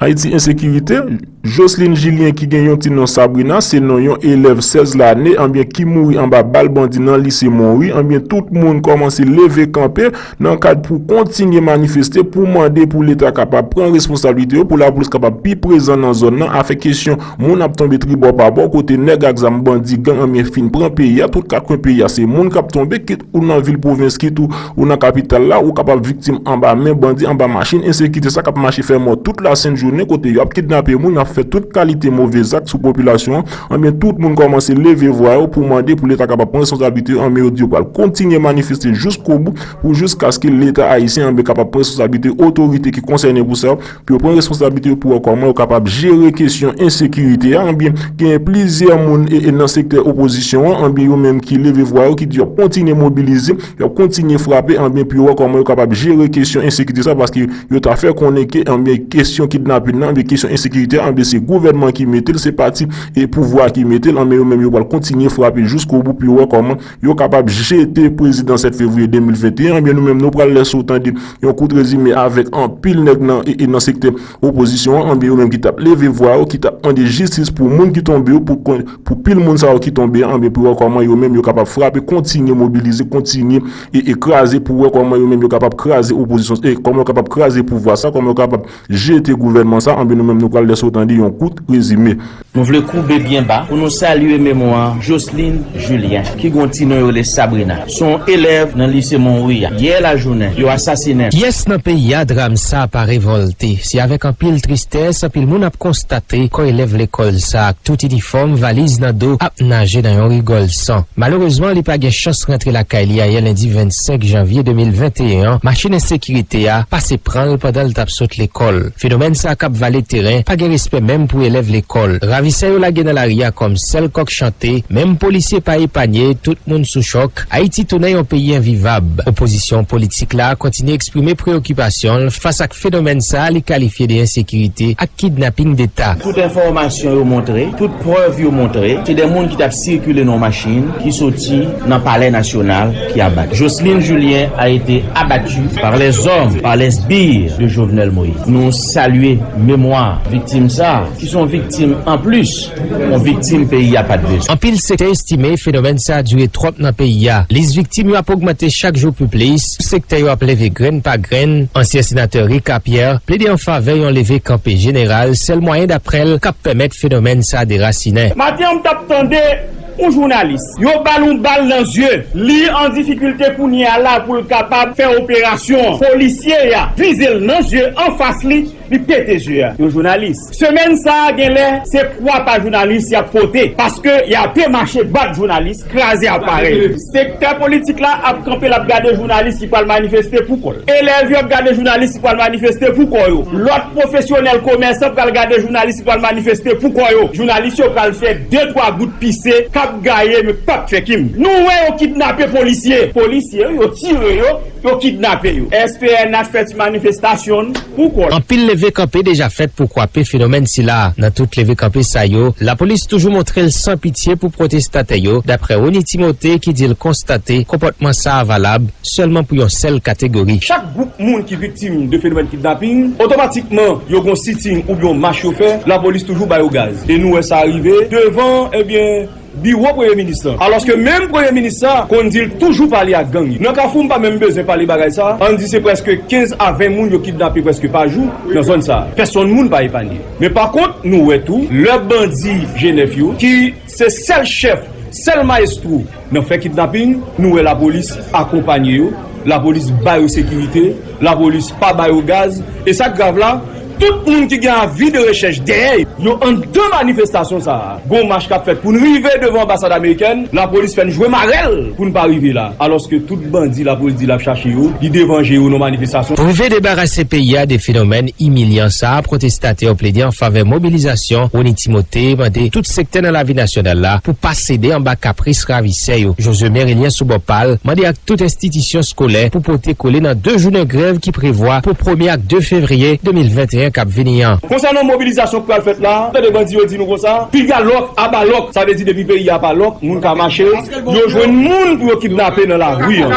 Ayiti Ensekirite, Jocelyne Julien ki gen yon ti non Sabrina se non yon elèv 16 lane anbyen ki mouri anba bal bandi nan lise Monwi anbyen tout moun kòmanse leve kanpe nan kad pou kontinye manifeste pou mande pou leta kapab pran responsablite yo pou lapolis kapab pi prezan nan zòn nan afè kesyon moun ap tonbe tribò pa bò kote nèg ak zam bandi gang anmye fin pran peyi a tout kat kwen peyi a se moun kap tonbe kit ou nan vil pwovens kit ou nan kapital la ou kapab viktim anba men bandi anba machin ensekite sa kap mache fè mò tout lasent jounen kote yo ap kidnape moun yap fè tout kalite move zak sou popilasyon Anben tout moun kòmanse leve vwa yo pou mande pou leta kapab pran responsablite yo anben yo di yo pral kontinye manifeste jiskobou pou jiskaske leta ayisyen anben kapab pran responsablite yo otorite ki konsène pou sa pou yo pran responsablite yo pou wè kòman yo kapab jere kesyon ensekirite a anben genyen plizyè moun nan sektè opozisyon an anben yo menm ki leve vwa yo ki di yo ap kontinye mobilize Y ap kontinye frape anben pou yo wè kòman yo kapab jere kesyon ensekirite sa paske yo ta fè konnen ke anben kesyon kidnapin nan anben kesyon ensekirite a anben se gouvènman ki mete l se pati e pouvwa ki mete l anben yo menm yo pral kontinye frape jiskobou pou yo wè kòman yo kapab jete prezidan 7 fevriye 2021 anben nou menm nou pral lèse ou tande yon kout rezime avèk anpil nèg nan e nan sektè Opozisyon an anvi yo menm ki tap leve vwa yo ki tap mande jistis pou moun ki tonbe yo pou pil moun sa yo ki tonbe an anvi pou wè kòman yo menm yo kapab frape kontinye mobilize kontinye e kraze pou wè kòman yo menm yo kapab kraze opozisyon e kòman yo kapab kraze pouvwa sa kòman yo kapab jete gouvènman sa anvi nou menm nou pral lèse ou tande yon kout rezime. Nou vle koube byen ba pou nou salye memwa Joceline Julien ki gen yon ti non yo rele Sabrina. Se yon elèv nan lise Monwi a. Yè lajounen, yo asasinen l. Pyès nan peyi a dram sa pa revòlte. Se avèk anpil tristès anpil moun ap konstate kò elèv lekòl sa ak tout inifòm, valiz nan do ap naje nan yon rigòl san. Malerezman li pa gen chans rantre lakay li ayè lendi 25 janvye 2021 an, machin ensekirite a pase pran l pandan l t ap sot lekòl. Fenomèn sa kap vale teren, pa gen respè menm pou elèv lekòl. Ravisè yo lage nan lari a kòm sèl kòk chante, menm polisye pa epanye, tout moun sou chòk. Ayiti tounen yon peyi envivab. Opozisyon politik la kontinye eksprime preyokipasyon l fas ak fenomèn sa li kalifye de ensekirite ak kidnaping deta. Tout enfòmasyon yo montre, tout prèv yo montre, se de moun ki tap sikile nan yon machin ki soti nan palè nasyonal, ki abat Jocelyn Julien a été abattu par les hommes, par les sbires de Jovenel Moïse. Nou salye memwa viktim sa a ki son viktim an plis, yon viktim peyi a pat bezwen. Anpil sektè estime fenomèn sa a dire twòp nan peyi a. Lis viktim yo ap ogmante chak jou pi plis, sektè yo ap leve grenn pa grenn. Ansyen senatè Ricard Pierre plede an favè yon leve kanpe jeneral, sèl mwayen daprè l k ap pèmèt fenomèn sa a derasinen. Maten an m t ap tande Ou jounalis. Yo bal yon bal nan zye. Li an difikilte kounye a la poul kapab fè operasyon an. Polisye a vizel nan zye anfas li, li pete zye a. Yon jounalis. Semèn sa genlè se kwa pa jounalis yap pote paske yape mache bat jounalis, kraze aparèy. Sektè politik la ap kanpe lap gade jounalis ki pral manifeste pou kòl. Elèv yo ap gade jounalis ki pral manifeste pou kò yo. Lòt pwofesyonèl komèsan pral gade jounalis ki pral manifeste pou kò yo. Jounalis yo pral fè de twa gout pise kap gaye men pap fè kim. Nou wè yo kidnape polisye. Polisye yo tire yo. Yo kidnape yo. SPNH fè ti manifestasyon n pou kò l. Anpil leve kanpe deja fèt pou kwape fenomèn sila. Nan tout leve kanpe sa yo, lapolis toujou montre l san pitye pou pwotestatè yo, daprè Rony Timothé ki di l konstate konpòtman sa a valab sèlman pou yon sèl kategori. Chak gwoup moun ki viktim de fenomèn kidnaping, otomatikman yo gon siting oubyen yon mach yo fè, lapolis toujou ba yo gaz. E nou wè sa rive devan, ebyen. biwo premye minis lan alòske menm premye minis sa konn di l toujou pale ak gang yo nan kafou m pa menm bezwen pale bagay sa ann di se prèske 15 a 20 moun yo kidnape prèske pa jou nan zòn sa pèsonn moun pa epanye men pa kont nou wè tou lè bandi jenèf yo ki se sèl chèf sèl mayestwo nan fè kidnaping nou wè lapolis akonpanye yo lapolis ba yo sekirite. Lapolis pa ba yo gaz e sa k grav la, tout moun ki gen avi de rechèch dèyè yo. Anndan manifestasyon sa a, gon mach k ap fèt pou n rive devan anbasad amerikèn, lapolis fè n jwe mare l pou n pa rive la, alòske tout bandi lapolis di l ap chache yo, li devan je yo nan manifestasyon. Rive debarase peyi a de fenomèn imilyan sa a, pwotestatè yo plede an favè mobilizasyon, Rony Timothé mande tout sektè nan lavi nasyonal la pou pa. sede anba kapris ravisè yo. Josue Merilien sou bò pa l, mande ak tout enstitisyon skolè pou pote kole nan 2 jounen grèv ki prevwa pou premye ak 2 fevriye 2021 k ap vini an. Konsènan mobilizasyon k pral fèt la, tande bandi yo di nou konsa, piga lòk, aba lòk, sa vle di depi peyi a pa lòk, moun ka mache, yo jwenn moun pou yo kidnape nan lari an.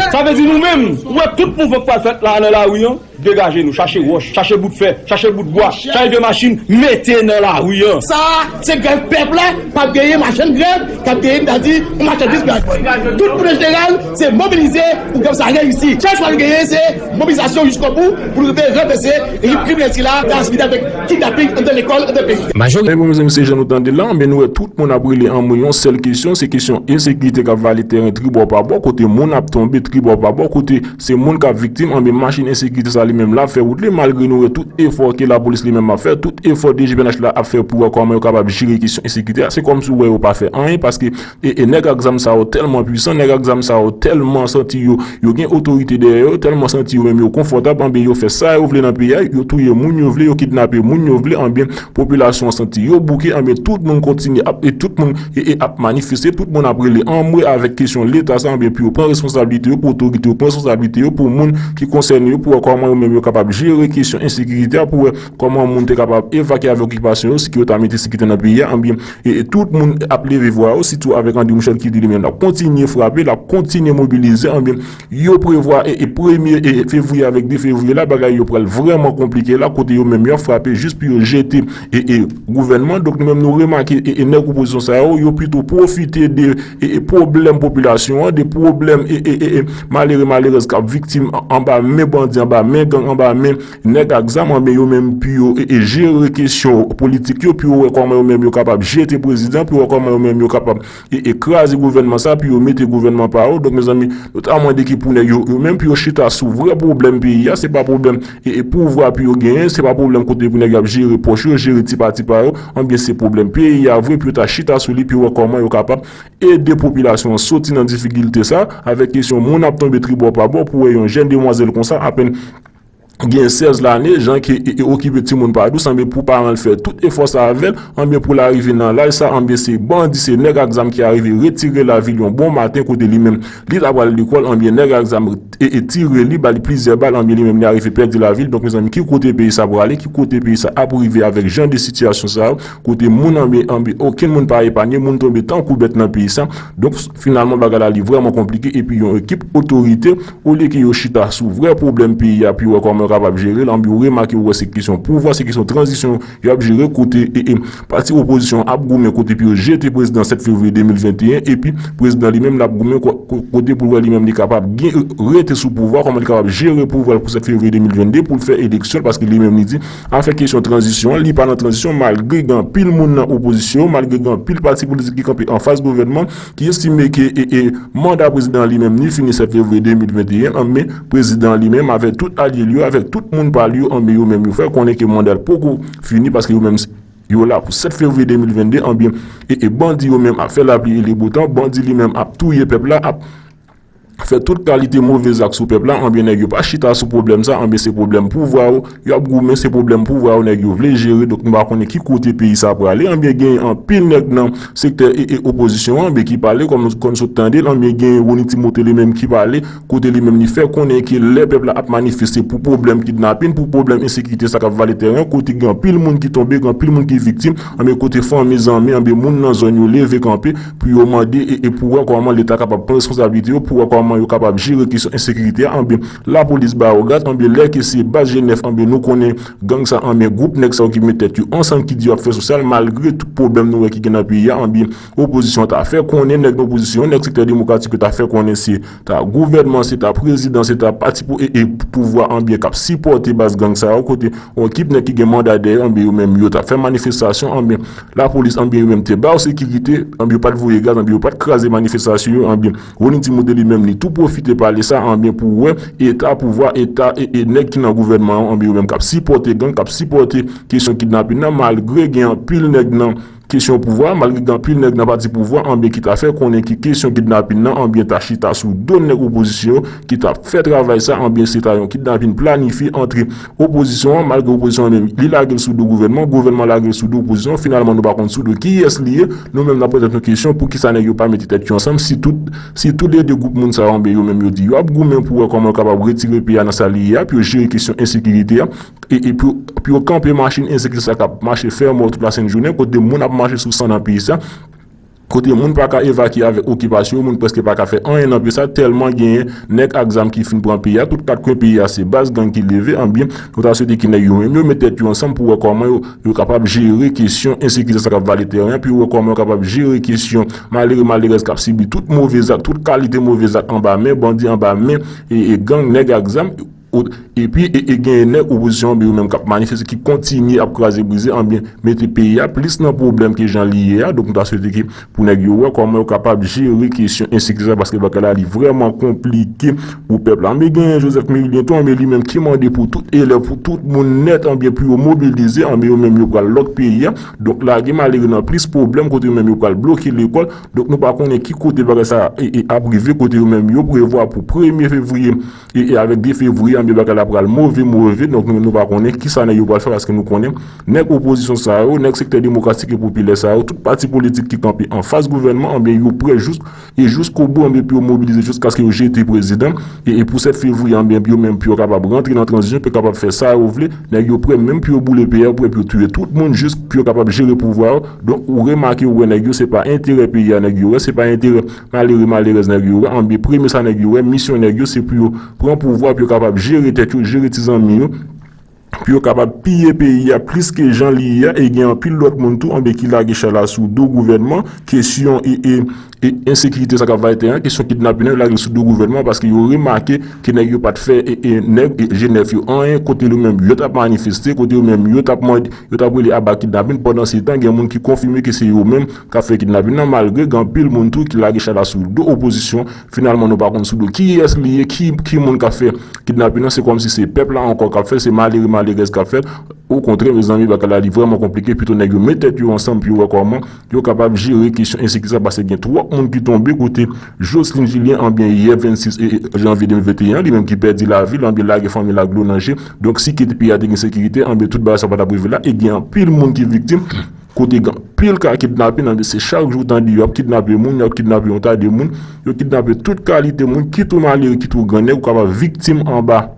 Sa vle di nou menm, ou wè tout mouvman k pral fèt la a nan lari an, Degaje nou, chache wòch, chache bout fè, chache bout bwa, chache de machin mete nan lari an. Sa a, se grèv pèp la, pa p genyen machann grèv, k ap genyen ta di yon machandiz pou y al vann. Tout moun an jeneral se mobilize pou grèv sa reyisi. Sèl chwa nou genyen se mobilizasyon jiskobou pou nou rive ranvèse rejim kriminèl sila k ap asfisye avèk kidnaping anndan lekòl, anndan peyi. Majò Rèy Bon Mezanmi se jan nou tande l la, men nou wè tout moun ap rele an mwen yon sèl kesyon, se kesyon ensekirite k ap vale tèren tribò pa bò, kote moun ap tonbe tribò pa bò, kote. Se moun kap viktim anben machin ensekirite sa li menm lap fè wout li malgre nou wè tout efò ke lapolis li menm ap fè tout efò dgpnh la ap fè pou wè kòman yo kapab jere kesyon ensekirite a se kòmsi ou wè yo pa fè anyen paske e nèg ak zam sa yo tèlman pwisan nèg ak zam sa yo tèlman santi yo yo gen otorite dèyè yo tèlman santi yo menm yo konfòtab anben yo fè sa yo vle nan peyi a yo touye moun yo vle yo kidnape moun yo vle anben Popilasyon an santi yo bouke anben tout moun kontinye ap e tout moun e e ap manifeste tout moun ap rele anmwe avèk kesyon leta sa anben pou yo pran responsablite yo pou otorite yo pran responsablite yo pou moun ki konsène yo pou wè kòman yo menm yo kapab jere kesyon ensekirite a pou wè kòman moun te kapab evakye avèk okipasyon yo si ki yo ta mete sekirite nan peyi a anben e e tout moun ap leve vwa yo sitou avèk André Michel ki di li menm lap kontinye frape lap kontinye mobilize anben. Yo prevwa e e premye e fevriye avèk 2 fevriye la bagay yo pral vrèman konplike la kote yo menm yo ap frape jis pou yo jete e e gouvènman donk nou menm nou remake e e nèg opozisyon sa yo yo pito pwofite de e e pwoblèm popilasyon an de pwoblèm e e e e malere malerèz k ap viktim an anba men bandi anba men gang anba men nèg ak zam anben yo menm pou yo e e jere kesyon politik yo pou yo wè kòman yo menm yo kapab jete prezidan pou yo wè kòman yo menm yo kapab e e kraze gouvènman sa pou yo mete gouvènman pa yo donk mezanmi nou ta mande ki pou nèg yo yo menm pou yo chita sou vrè pwoblèm peyi a se pa pwoblèm e e pouvwa pou yo genyen se pa pwoblèm kote pou nèg yo ap jere pòch yo jere ti pati pa yo anbyen se pwoblèm peyi a vre pou yo ta chita sou li pou yo wè kòman yo kapab ede popilasyon an soti nan difikilte sa avèk kesyon moun ap tonbe tribò pa bò pou wè yon jèn demwazèl konsa apèn gen 16 lane, jan ke e okipe timoun pa dous anben pou paran l fè tout efò sa avè l, anben pou l arive nan laj sa anben se bandi se nèg ak zam ki arive retire lavi l yon bon maten kote li menm li ta pral lekòl anben nèg ak zam e tire li ba li plizyè bal anben li menm li arive pèdi lavi l donk mezanmi ki kote peyi sa prale ki kote peyi sa ap rive avèk jan de sitiyasyon sa yo kote moun anben anben okenn moun pa epanye moun tonbe tankou bèt nan peyi sa donk finalman bagay la li vrèman konplike epi yon ekip otorite Olye ke yo chita sou vrè pwoblèm peyi a pou yo wè kòman yo kapab jere l, anben yo remake yo wè se kesyon pouvwa, se kesyon tranzisyon y ap jere kote pati opozisyon an ap goumen kote pou yo jete prezidan 7 fevriye 2021 epi prezidan li menm l ap goumen kote pou l wè li menm li kapab rete sou pouvwa, kòman li kapab jere pouvwa l pou 7 fevriye 2022 pou l fè eleksyon l paske li menm li di afè kesyon tranzisyon an li pa nan tranzisyon malgre gen anpil moun nan opozisyon malgre gen anpil pati politik ki kanpe anfas gouvènman. ki estime ke manda prezidan an li menm ni fini 7 fevriye 2021 an men prezidan an li menm avèk tout alye l yo, avèk tout moun pa l yo an men yo menm yo fè konnen ke manda l poko fini paske yo menm yo la pou 7 fevriye 2022 an men bandi yo menm ap fè lapli e le bo tan, bandi li menm ap touye pèp la, ap. fè tout kalite move zak sou pèp la anben nèg yo pa chita sou pwoblèm sa anben se pwoblèm pouvwa yo yo ap goumen se pwoblèm pouvwa yo nèg yo vle jere donk nou pa konnen ki kote peyi sa prale anben genyen anpil nèg nan sektè opozisyon anben ki pale kòm nou konn sot tande l anben genyen Rony Timothé li menm ki pale kote li menm li fè konnen ke lè pèp la ap manifeste pou pwoblèm kidnapin pou pwoblèm ensekirite sa k ap vale tèren kote gen anpil moun ki tonbe gen anpil moun ki viktim anben kote fanmi zanmi anben moun nan zòn yo leve kanpe pou yo mande e pou wè kòman leta kapab pran reskonsablite yo pou wè kòman yo kapab jere kesyon ensekirite a anben lapolis ba yo gad anben lè ke se baz jenèf anben nou konnen gang sa anben gwoup nèg sa yo ki met tèt yo ansanm ki di yo ap fè sosyal malgre tout pwoblèm nou wè ki gen nan peyi a anben opozisyon ta fè konnen nèg nan opozisyon nèg sektè demokratik yo ta fè konnen se Ta gouvènman se ta prezidan se ta pati pou e e pouvwa anbyen kap sipòte baz gang sa yo kote yon ekip nèg ki gen manda dèyè anbyen yo menm yo ta fè manifestasyon anbyen lapolis anbyen yo menm te bayo sekirite anbyen yo pat voye gaz anbyen yo pat kraze manifestasyon yo anbyen Rony Timote li menm li tou pwofite pale sa anbyen pou wè eta pouvwa eta e e nèg ki nan gouvènman yo anbyen yo menm kap sipòte gang kap sipòte kesyon kidnapin nan malgre gen anpil nèg nan Kesyon pouvwa, malgre gen anpil nèg nan pati pouvwa anbyen ki ta fè konnen ke kesyon kidnapin nan anbyen ta chita sou do nèg opozisyon yo ki ta fè travay sa anbyen se ta yon kidnapin planifye antre opozisyon an malgre opozisyon an menm li lage l sou do gouvènman, gouvènman lage l sou do opozisyon finalman nou pa konn sou do kiyès li ye nou menm n ap poze tèt nou kesyon poukisa nèg yo pa mete tèt yo ansanm si tout si tou le 2 gwoup moun sa yo anbyen yo menm yo di yo ap goumen pou wè kòman yo kapab retire peyi a nan sa li ye a pou yo jere kesyon ensekirite a e pou yo kanpe machin ensekti sa k ap mache fè mò tout lasentjounen, kote moun ap mache sou san nan peyi sa, kote moun pa ka evakye avèk okipasyon yo, moun prèske pa ka fè anyen nan peyi sa tèlman genyen nèg ak zam ki fin pran peyi a, tout kat kwen peyi a se baz gang ki leve, anbyen nou ta swete ki nèg yo menm yo met tèt yo ansanm pou wè kòman yo kapab jere kesyon ensekirite sa k ap vale tèren an, pou yo wè kòman yo kapab jere kesyon malere malerèz k ap sibi tout move zak, tout kalite move zak anba men bandi, anba men gang, nèg ak zam. Epi e genyen nèg opozisyon an yo menm k ap manifeste ki kontinye ap kraze brize anbyen mete peyi a plis nan pwoblèm ke jan li ye a donk nou ta swete ke pou nèg yo wè kòman yo kapab jere kesyon ensekirite sa paske bagay la li vrèman konplike pou pèp la anbyen genyen Joseph Mérilien tou anbyen li menm ki mande pou tout elèv pou tout moun nèt anbyen pou yo mobilize anbyen yo menm yo pral lòk peyi a donk lage malere nan plis pwoblèm kote yo menm yo pral bloke lekòl donk nou pa konnen ki kote bagay sa ap rive kote yo menm yo prevwa pou premye fevriye E avèk 2 fevriye anbe bagay la pral move move donk nou menm nou pa konnen kisa nèg yo pral fè paske nou konnen nèg opozisyon sa yo nèg sektè demokratik e popilè sa yo tout pati politik ki kanpe anfas gouvènman anbe yo prè jous e jouskobou anbe pou yo mobilize jouskaske yo jete prezidan e pou 7 fevriye anbe pou yo menm pou yo kapab rantre nan tranzisyon pou yo kapab fè sa yo vle nèg yo prè menm pou yo boule peyi a prè pou yo touye tout moun jous pou yo kapab jere pouvwa yo donk ou remake ou wè nèg yo se pa enterè peyi a nèg yo wè se pa enterè Malere malerèz nèg yo wè anbyen premye sa nèg yo wè misyon nèg yo se pou yo pran pouvwa pou yo kapab jere tèt yo jere ti zanmi yo pou yo kapab piye peyi a plis ke jan li ye a e gen anpil lòt moun tou anbyen ki lage chay la sou do gouvènman kesyon e ensekirite sa kap vale tè an kesyon kidnapin an yo lage l sou do gouvènman an paske yo remake ke nèg yo pat fè nèg jenèf yo anyen kote yo menm yo tap manifeste kote yo menm yo tap mande yo tap rele aba kidnapin pandan se tan gen moun ki konfime ke se yo menm kap fè kidnapin nan malgre gen anpil moun tou ki lage chada sou do opozisyon finalman nou pa konn sou do kiyès li ye ki moun kap fè kidnapin nan se kòmsi se pèp la ankò kap fèl se malere malerèz kap fèl o kontrè mezanmi bagay la li vrèman konplike pito nèg yo met tèt yo ansanm pou yo wè kòman yo kapab jere kesyon ensekirite sa paske gen twòp moun ki tonbe kote Jocelyn Julien anbyen yè 26 janvye 2021 li menm ki pèdi lavil anbyen lage fanmil ak dlo nan je donk si kite peyi a te gen sekirite anbyen tout bagay sa patap rive la e gen anpil moun ki viktim Kote gen anpil ka kidnapin ann se chak jou w tande yo ap kidnape moun, yo ap kidnape yon ta de moun, yo kidnape tout kalite moun kit ou malere kit ou grannèg ou kapab viktim anba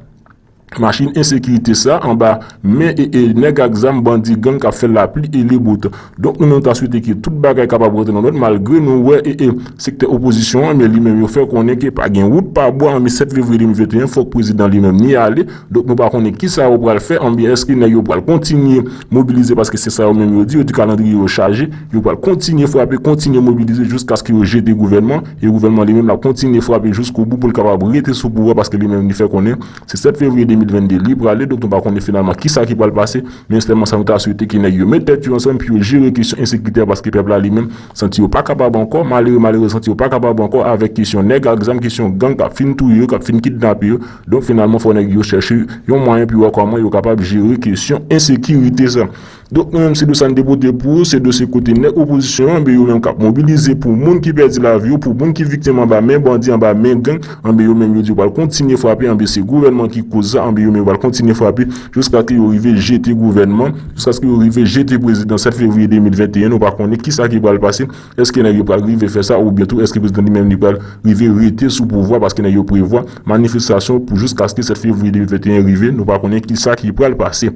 machin ensekirite sa, anba men e e nèg ak zam bandi gang k ap fè lapli e le bo tan. Donk nou menm nou ta swete ke tout bagay kapab rantre nan lòd malgre nou wè e e sektè opozisyon an men li menm yo fè konnen ke pa gen wout pa bwa an men 7 fevriye 2021 fòk prezidan li menm ni ale Donk nou pa konnen kisa yo pral fè anbyen èske nèg yo pral kontinye mobilize paske se sa yo menm yo di yo di kalandriye yo chaje yo pral kontinye frape kontinye mobilize jiskaske yo jete gouvènman e gouvènman li menm lap kontinye frape jiskobou pou l kapab rete sou pouvwa paske li menm li fè konnen se 7 fevriye 2022 li prale donk nou pa konnen finalman kisa ki pral pase men sèlman sa nou ta swete ke nèg yo met tèt yo ansanm pou yo jere kesyon ensekirite a paske pèp la li menm santi yo pa kapab ankò malere malerez santi yo pa kapab ankò avèk kesyon nèg ak zam kesyon gang kap fin touye yo kap fin kidnape yo Donk finalman fò nèg yo chèche yon mwayen pou wè kòman yo kapab jere kesyon ensekirite sa. Donk nou menm se dosye sa n te pote pou ou, se dosye kote nèg opozisyon anben yo menm k ap mobilize pou moun ki pèdi lavi yo, pou moun ki viktim anba men bandi, anba men gang, anben yo menm yo di yo pral kontinye frape, anben se gouvènman ki koz sa, anben yo menm yo pral kontinye frape jiskaske yo rive jete gouvènman, jiskaske yo rive jete prezidan 7 fevriye 2021 nou pa konnen kisa ki pral pase. Eske nèg yo pral rive fè sa oubyen tou eske prezidan li menm li pral rive rete sou pouvwa paske nèg yo prevwa manifestasyon pou jiskaske 7 fevriye 2021 rive nou pa konnen kisa ki pral pase.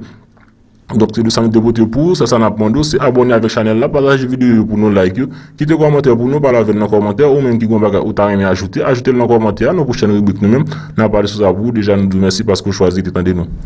Donk se de sa nou te pote pou ou sèl sa nap mande w se abòne avèk chanèl la pataje videyo yo pou nou like yo kite kòmantè pou nou pale avèn nan kòmantè ou menm ki gen yon bagay ou ta renmen ajoute ajoutel nan kòmantè a nan pwochèn ribrik nou menm nap pale sou sa pou ou deja nou di w mèsi paske w chwazi rete tande nou.